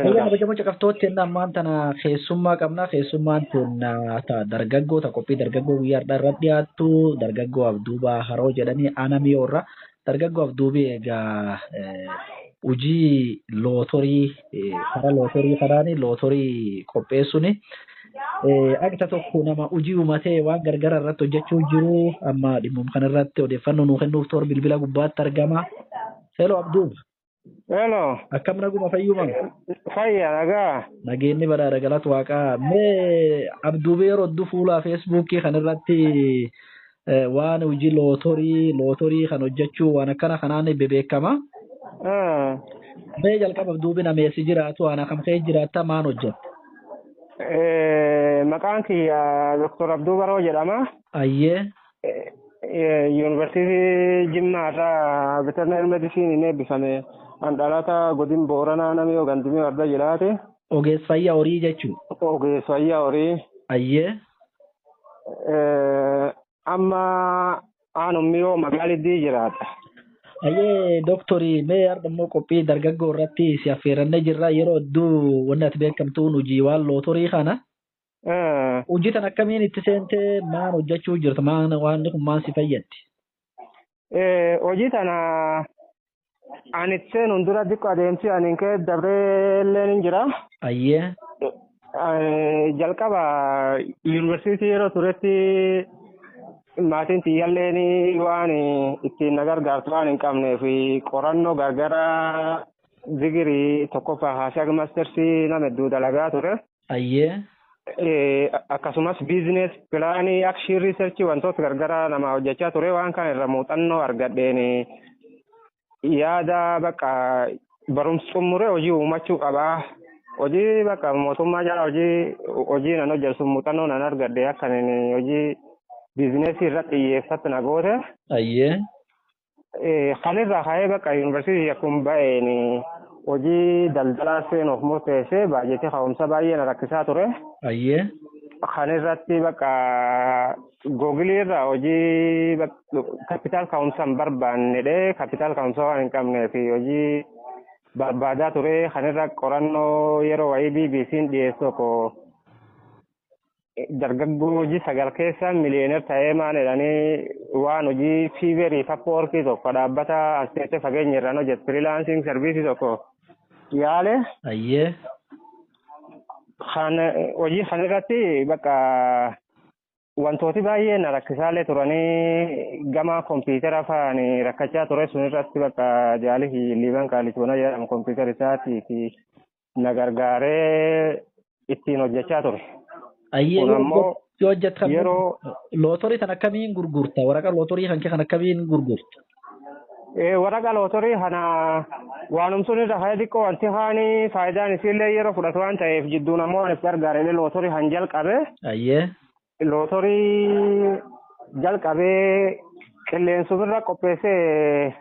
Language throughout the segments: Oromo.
Egaa kabajamoo caqastootni inni ammaan tana keessummaa qabna. Keessummaan kun dargaggoo ta qophii dargaggoo guyyaa har'aa irratti dhiyaattu dargaggoo Abduubaa Haroo jedhanii aanaa miyoo irraa. Dargaggoo Abduubii egaa hojii lootorii karaa lootorii kanaan lootorii qopheessuun agta tokko nama hojii uumatee waan gargara irratti hojjechuu jiru amma dhimmum kanarratti odeeffannoo nuu kennuuf toora bilbila gubbaatti argama. Hello Abduuba. Hello. Akkam naguma fayyuma? Fayya nagaa. Nageenyi badhaadha galata waaqaa. Mee abduubee yeroo hedduu fuula feesbuukii kan irratti eh, waan hojii lootorii lootorii kan hojjechuu waan akkana kanaan bebeekama. Ah. Mee jalqaba abduubiin ameessi jiraatu waan akkam kee jiraatta maan hojjetta? Eh, Maqaan kiyya Dr. Abduu Baroo jedhama. Ayyee. Yuunivarsiitii Jimmaa irraa Veterineer Medisiiniin eebbifame. An dhalata godin Booranaa namni yoo gandimee warda jedhaati. Ogeessa fayyaa horii jechuun. Ogeessa fayyaa horii. Ayyee. Amma aanummi yoo magaaliddii jiraata. Ayyee dooktorii mee har'a immoo qophii dargaggoo irratti si affeerannee jirra yeroo hedduu wanni ati beekamtuun hojii waan lootorii kana. Ah, Hojii tan akkamiin itti seentee maal hojjechuu jirta? Maal waan kun maal si fayyaddi? eh, hojii tana ani itti seenuun dura xiqqoo adeemsi ani hin ka'e dabree illee ni jira. Ayyee. Eh, Jalqaba yuunivarsiitii yeroo turetti maatiin tiyyaalleen waan ittiin na gargaartu waan hin qabneef qorannoo gargaraa digirii tokkoffaa haashaa mastersii nama hedduu dalagaa ture. Ayyee. akkasumas biizines pilaanii akshii riisarchii wantoota gargaraa nama hojjechaa ture waan kana irra muuxannoo argadheen yaada bakka barumsa xumuree hojii uumachuu qabaa. Hojii bakka mootummaa jala hojii hojii nan hojjetu muuxannoo nan argadhe akka hojii biizineesii irratti xiyyeeffatu na goote. Ayyee. kan irraa ka'ee bakka yuunivarsiitii akkuma ba'een hojii daldalaa seenuuf murteessee baajetii ka'umsa baay'ee na rakkisaa ture. Ayyee. Kan irratti bakka googilii irraa hojii kapitaal ka'umsa hin barbaannedhee kapitaal ka'umsa waan hin qabneef hojii barbaadaa ture kan irra qorannoo yeroo wayii BBC'n dhiyeessu tokko dargaggoo hojii sagal keessa miliyeener ta'ee maan jedhanii waan hojii fiiverii sappoorkii tokko dhaabbata as teessee fageenya irraan hojjetu firilaansiing sarviisii tokko yaale Ayyee. kan hojii kan irratti bakka wantooti baay'ee na rakkisaalee turanii gama kompiitara fa'aan rakkachaa ture sun irratti bakka jaalisi liiban qaalichoona jedhamu kompiitara isaati fi na gargaaree ittiin hojjechaa ture. Ayyee Kun yoo ammoo hojjet- yoo hojjettan Yeroo lootorii kan akkamiin gurgurta? Waraqaa lootorii kan kee kan akkamiin gurgurta? eh, waraqaa lootorii kana waanumsuun irra haya xiqqoo wanti haani faayidaan isiillee yeroo fudhatu waan ta'eef jidduun ammoo waan itti gargaaree lootorii han jalqabe. Ayyee. Lootorii jalqabee qilleensumirra qopheessee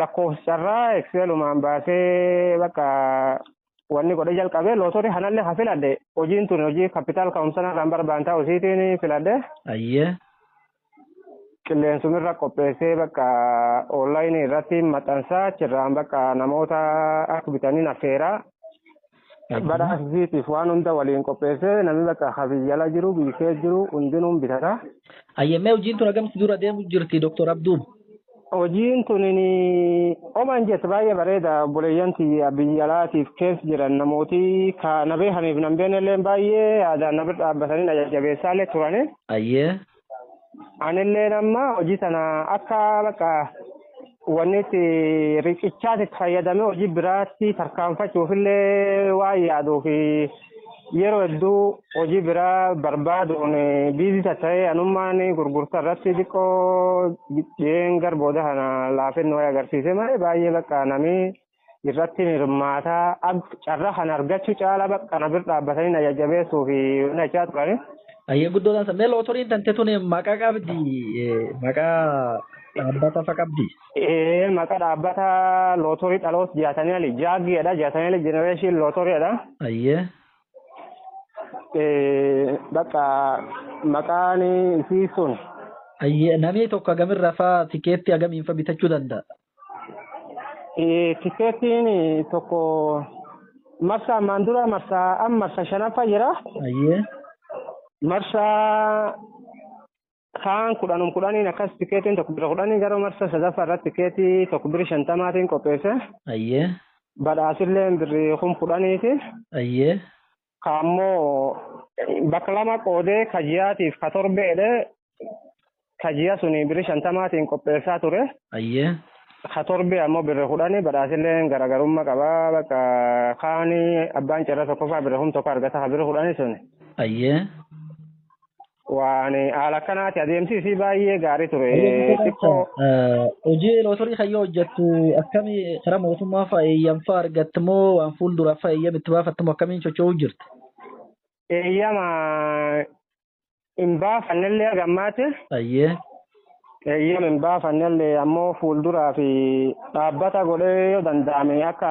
lakkoofsarraa ekseelumaan baasee bakka wanni godhee jalqabee lootorii kanallee ha filadhe hojiin tun hojii kapitaal ka'umsanarraan barbaan ta'u isiitiin filadhe Ayyee. qilleensumirra qopheessee bakka oonlaayinii irratti maxxansaa achirraan bakka namoota akka bitaniin affeeraa badhaasisiitiif waan hunda waliin qopheessee namni bakka ha biyyala jiru biyyee jiru hundinuun bitata. Ayyammee hojiin tun akkamitti dura deemu jirti Dr. Abduu? Hojiin tun oman jette baay'ee bareeda obboleeyyan tiyya biyya alaatiif keessa jiran namooti ka na beekaniif nan beeknellee baay'ee yaadaan na bira dhaabbatanii na jajjabeessaallee turani. Ayyee. Anillee amma hojii sana akka bakka wanni itti riqichaatti itti fayyadamee hojii biraatti tarkaanfachuufillee waan yaaduu fi yeroo hedduu hojii biraa barbaaduun biizii tatta'ee anummaan gurgurtaa irratti xiqqoo dhiyeen gara booda kana laafinni wayii agarsiise malee baay'ee bakka namni irratti hirmaataa ab- carraa kan argachuu caalaa bakka kana bira dhaabbatanii na jajjabeessuu fi na jechaa turani. Ayyee guddoo dansa. Mee lootoriin tante tun maqaa qabdi maqaa dhaabbata fa qabdi. Ee maqaa dhaabbata lootorii dhaloota jaatanii ali jaaggeedha jaatanii ali jenereeshin lootoriidha. Ayyee. Ee bakka maqaan isii sun Ayyee namni tokko agamirraa fa tikeetti agamiin fa bitachuu danda'a. Tikeetiin tokko marsaa ammaan dura marsaa amma marsaa shanaffaa jira. Ayyee. Marsaa kaan kudhanum kudhaniin akkas tikeetiin tokko bira kudhanii gara marsaa sadaffaa irratti tikeetii tokko biri shantamaatiin qopheesse. Ayyee. Badhaasillee birri kum kudhaniiti. Ayyee. Ka ammoo bakka lama qoodee ka ji'aatiif ka torbee jedhee ka ji'a suni birri shantamaatiin qopheessaa ture. Ayyee. Ka torbee ammoo birri kudhani badhaasilleen garaagarummaa qaba bakka kaani abbaan carraa tokkoffaa birri kum tokko argata ka birri kudhani suni. Ayyee. Waan haala akkanaati adeemsi isii baay'ee gaarii ture. Xiqqoo Hojii lootorii kan yoo hojjettu akkamii karaa mootummaa fa'a eeyyam fa'a argatta moo waan fuulduraaf fa'a eeyyam itti baafatta moo akkamiin socho'uu jirta? eeyyama hin baafannellee gammaatti. Ayyee. Eeyyama hin baafannellee ammoo fuulduraa fi dhaabbata godhee yoo danda'ame akka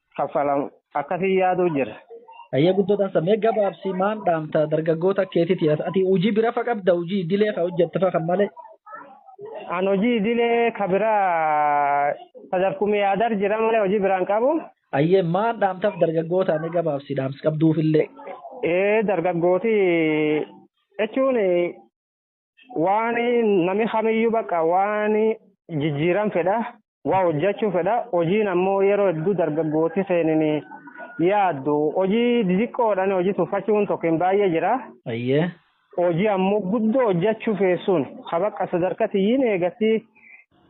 kaffalam akkasii yaaduu jira. Ayyee guddoo dansa mee gabaabsi maan dhaamta dargaggoota keetiti ati hojii bira fa qabda hojii idilee ka hojjette fa kan malee. An hojii idilee ka biraa sadarkuma yaadar jira malee hojii biraan qabu. Ayyee maan dhaamtaf dargaggoota mee gabaabsi dhaamsi qabduufillee. Ee dargaggooti jechuun waan nami kamiyyuu bakka waan jijjiiran fedha waa hojjechuu fedha hojiin ammoo yeroo hedduu dargaggooti keenini yaaddu hojii didiqqoodhaan hojii tuffachuun tokkoon baay'ee jira. Ayyee. Hojii ammoo guddoo hojjechuu feessuun ha bakka sadarkaa tiyyiin eegatti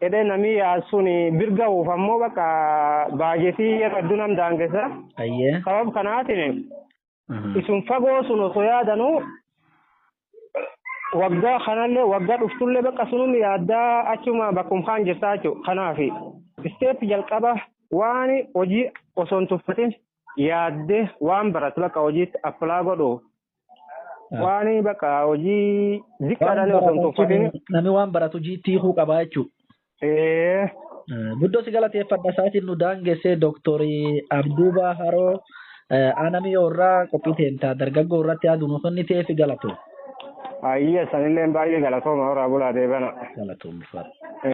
jedhee namni yaadsuun birga'uuf ammoo bakka baajetii yeroo hedduu nam daangessa. Ayyee. Sabab kanaatiin isun fagoo sun osoo yaadanu waggaa kanallee waggaa dhuftullee bakka sunum yaaddaa achuma bakkum kaan jirtaa jechuudha. Kanaaf isteep jalqaba waan hojii osoo hin tuffatin yaadde waan baratu bakka hojiitti appilaa godhu waan bakka hojii ziqqaadhaan osoo hin tuffatin. Namni waan baratu hojiitti hiikuu qabaa jechuudha. Ee. Guddoo si galateeffadha isaatiin nu daangessee Dooktorii Abduubaa Haroo aanamii irraa qophii teentaa dargaggoo irratti yaadu nu kennitee fi galatu. Ayya sanillee baay'ee galatooma horaa bulaa deebana. Galatoomfadha.